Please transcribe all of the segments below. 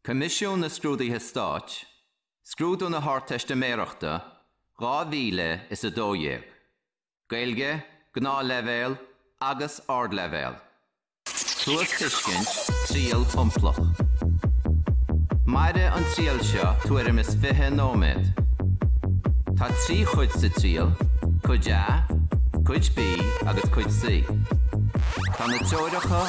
Coimisiún na Scrúduithe Stáit, Scrúdú na hArdteistiméireachta 2012, Gaeilge, Gnáthleibhéal agus Ardleibhéal, Cluastuiscint, Triail Shomplach. Mairfidh an triail seo tuairim is 20 nóiméad. Tá trí chuid sa triail, Cuid A, Cuid B agus Cuid C. Tá na treoracha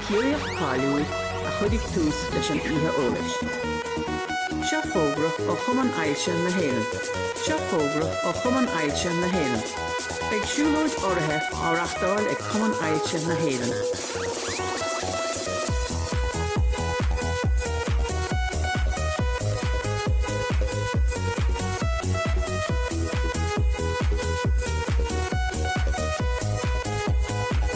Ciarraíoch cáiliúil a chuirfidh tús leis an oíche eolais. Seo fógra ó Chumann Ailse na hÉireann Seo fógra ó Chumann Ailse na hÉireann Beidh siúlóid urraithe á reachtáil ag Cumann Ailse na hÉireann.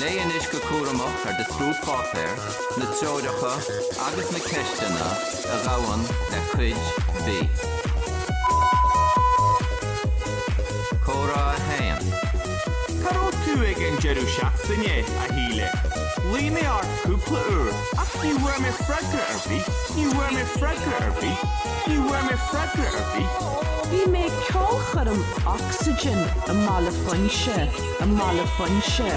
Léigh anois go cúramach ar do scrúdpháipéar na treoracha agus na ceisteanna a ghabhann le Cuid B. Comhrá 1 Cá raibh tú ag an deireadh seachtaine, a Shíle? Ghlaoigh mé ort cúpla uair ach ní bhfuair mé freagra ar bith, ní bhfuair mé freagra ar bith, ní bhfuair mé freagra ar bith. Bhí mé ag ceolchoirm Oxegen i mBaile Phuinse. I mBaile Phuinse.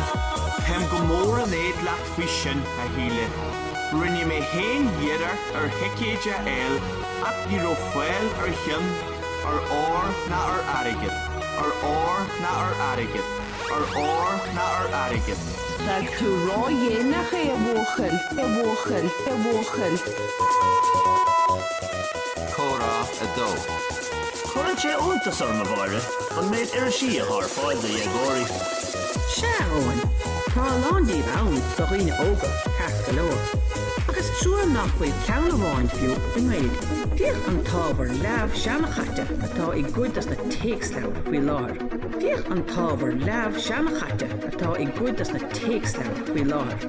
Táim go mór in éad leat faoi sin, a Shíle. Rinne mé féin iarracht ar thicéid a fháil ach ní raibh fáil ar cheann ar ór ná ar airgead, ar ór ná ar airgead, ar ór ná ar airgead. D'fhág tú ródhéanach é, a bhuachaill, a bhuachaill, a bhuachaill. Comhrá 2. Cuireann sé iontas orm, a Mháire, an méid irisí atá ar fáil do dhéagóirí. Sea, a Eoin, tá a lán díobh ann do dhaoine óga, ceart go leor, ach is trua nach bhfuil ceann amháin fiú i nGaeilge. Féach an t-ábhar leamh seanchaite atá i gcuid dos na téacsleabhair faoi láthair. Féach an t-ábhar leamh seanchaite atá i gcuid dos na téacsleabhair faoi láthair.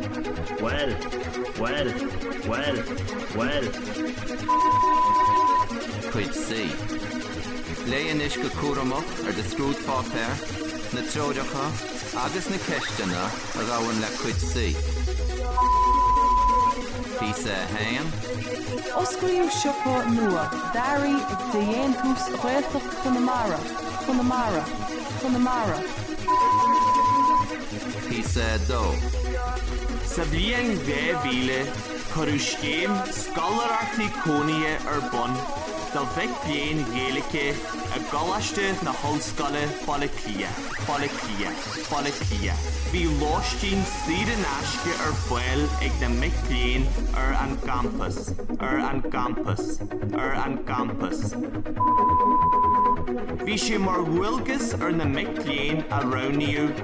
Cuid C, Léigh anois go cúramach ar do scrúdpháipéar na treoracha agus na ceisteanna a ghabhann le Cuid C. Píosa 1, Osclaíodh siopa nua d'earraí de dhéantús Gaeltachta i gConamara, gConamara, i gConamara. Píosa 2, Sa bhliain 2000, Cuireadh scéim scoláireachtaí cónaithe ar bun do mhic léinn Gaeilge i gColáiste na hOllscoile Baile Átha Cliath, Baile Átha Cliath. Bhí lóistín saor in aisce ar fáil ag na mic léinn ar an gcampas, ar an gcampas, ar an gcampas. Bhí sé mar dhualgas ar na mic léinn a roghnaíodh,